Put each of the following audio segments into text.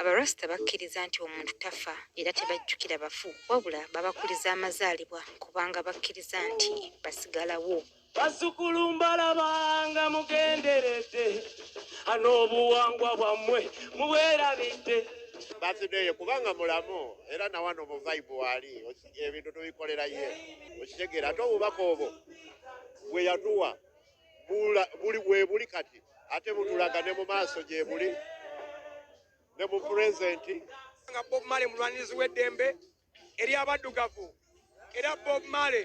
Abarasita bakkiriza nti omuntu tafa era tebajjukira bafu wabula babakuliza amazaalibwa kubanga bakkiriza nti basigalawo. Bazzukulu mbalabanga mugenderedde n'obuwangwa bwammwe mubwerabidde. Basideye kubanga mulamu era nawano mu vibe wali ebintu tubikolera ye okitegeera ate obubaka obwo bwe yatuwa buli webuli kati ate butulaga ne mu maaso gyebuli ne mu pulezenti nga bob male mulwanirizi w'eddembe eri abaddugavu era bob male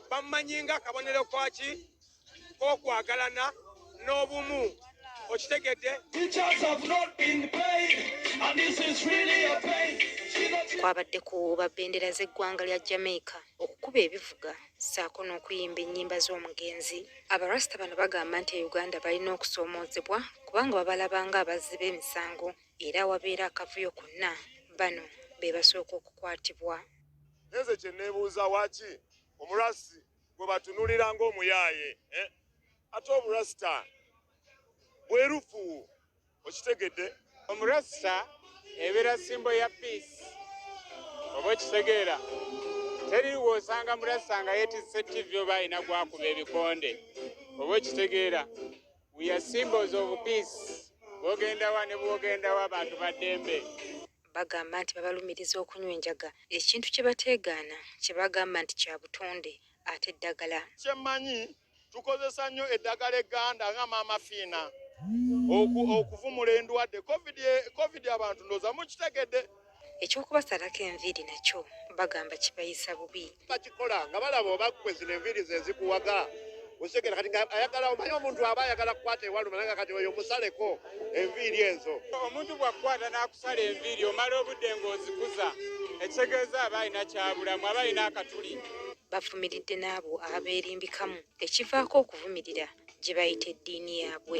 bamumanyi nga kabonero kwaki kokwagalana n'obumu okitegedde kwabadde ku ba bendera z'eggwanga lya jamaica okukuba ebivuga ssaako n'okuyimba ennyimba z'omugenzi. Abarasita bano bagamba nti e Uganda balina okusoomoozebwa kubanga babalaba ng'abazzi b'emisango era awabeera akavuyo konna bano be basooka okukwatibwa. Nze kye neebuuza waaki omurasi gwe batunulira ng'omuyaaye eh? ate oburasita bwerufu okitegedde omurasta ebeera simbo ya peace oba okitegeera teri wosanga murasta nga yetise tv oba alina gwakuba ebikonde oba okitegeera weare symbols of peace bwogendawa ne bwogendawo abantu baddembe bagamba nti babalumiriza okunywa enjaga ekintu kye bateegaana kye bagamba nti kya butonde ate eddagala kyemanyi tukozesa nnyo eddagala egganda nga maama fiina okuvumula endwadde covid abantu ndooza mukitegedde ekyokubasalako enviiri nakyo bagamba kibayisa bubi bakikola nga balaba obakwe zino enviiri zezikuwaga osekera kati ayagala omanyi omuntu aba ayagala kukwata ewaluma nanga kati oyo musaleko enviiri ezo omuntu bwakukwata nakusala enviiri omala obudde ngaozikuza ekitegeeza aba alina kyabulamu aba alina akatuli bavumiridde n'abo abeerimbikamu ekivaako okuvumirira gye bayita eddiini yaabwe.